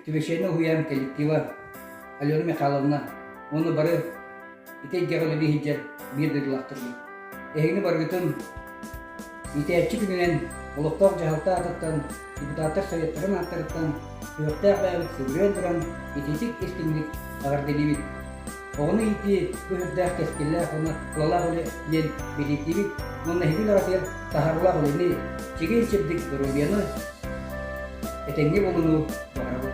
Түбэшээнэ уһуйаан коллектива Алена Михайловна уонна бары ити эйгэҕэ үлэлиһиджэр биир дойдулаахтарбыт. Эһигини барыгытын Иитээччи күнүнэн олохтоох дьаһалта аатыттан депутаттар Советтарын ааттарыттан күөхтээх бэйэбит сыгырыйан туран итиитик истиҥник эҕэрдэлиибит. Оҕону иитии бу сүрдээх кэскиллээх уонна тулалаах үлэ диэн билийтиибит уонна иһитин аҕатыгар таһаарыылаах үлэни чиҥин чэбдик доруобуйаны, этэҥҥи булунуу баҕарабыт.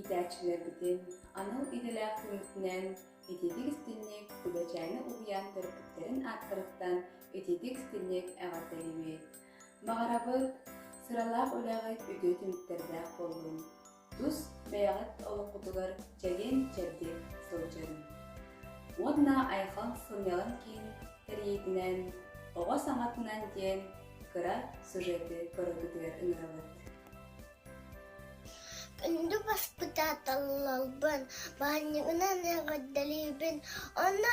иитээччилэрбитин анал идэлээх түмүкүнэн ититик истинник Күбэчээни уһуйаан төрөппүттэрин ааттарыттан ититик истинник эҕэрдэлибит. Баҕарабыт, сыралаах үлэҕит үтүө түмүктэрдээх буоллун. тус бэйэҕит олоххутугар чэгиэн чэбдик сылдьыҥ уонна айхал сынньалаҥ киин тэрийиитинэн оҕо саҥатынан диэн кыра сюжеты көрөргүтүгэр ыҥырабыт Үнду воспитателларбын баанньыгынан эҕэрдэлиибин онно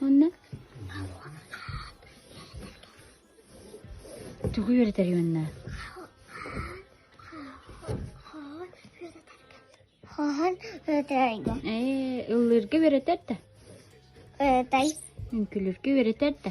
Уонна тугу үөрэтэр уонна Ээ, ыллыырга үөрэтэр да, үҥкүлүргэ үөрэтэр да.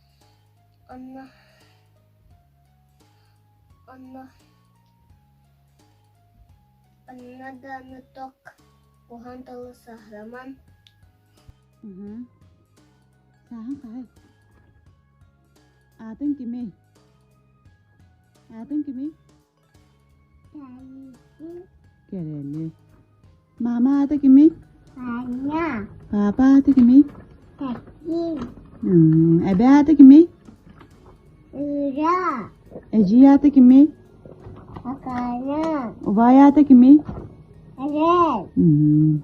Онно онно онно даҕаны ток куһан тылы саһыраман Уһу. Сааһын хаһык. Аатын кимий? Аатын кимий? Кэрэни. Маама аата кимий? Таня. Папа аата кимий? Катин. Эбэ аата кимий? Ира. Эдьий аата кимий? Акана. Убай аата кимий? Арен.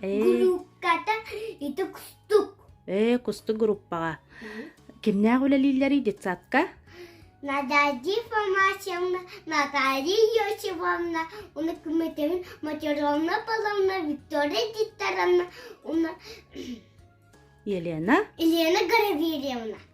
Группката ити кустук. Ээ, кустук группаҕа. Кимнээх үлэлииллэрий детсадка? Наталья Фомашевна, Наталья Йосифовна, уна кметевин матеровна Павловна, Виктория Титаровна, уна Елена? Елена Гороверевна.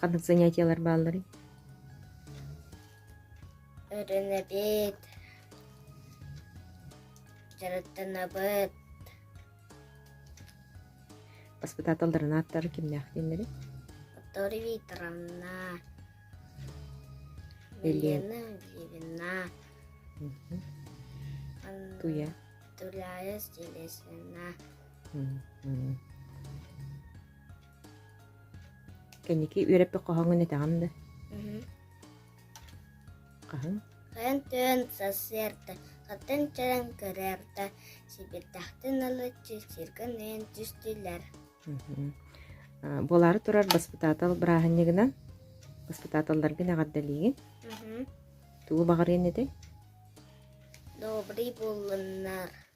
Ханнык занятиялар баалларый? Өрүнэбит, дьарыктанабыт. Воспитателларын ааттары кимнээх дииллэрий? Виктория Викторовна, Елена Гивина, Туя. Туляя Стилесина. Кэнники үөрэппит хоһоҥҥун этэҕин да? Хаһыҥ? Хайан түһэн сарсыарда, хатан чаран көрөөрдө, сибирдэхтин ылы чичиргин эйэн түстүлэр. Буолаары турар баспытаатал бырааһынньыгынан баспытааталларгын эҕэрдэлиигин. Тугу баҕарыан этэй? Добрый буллуннар.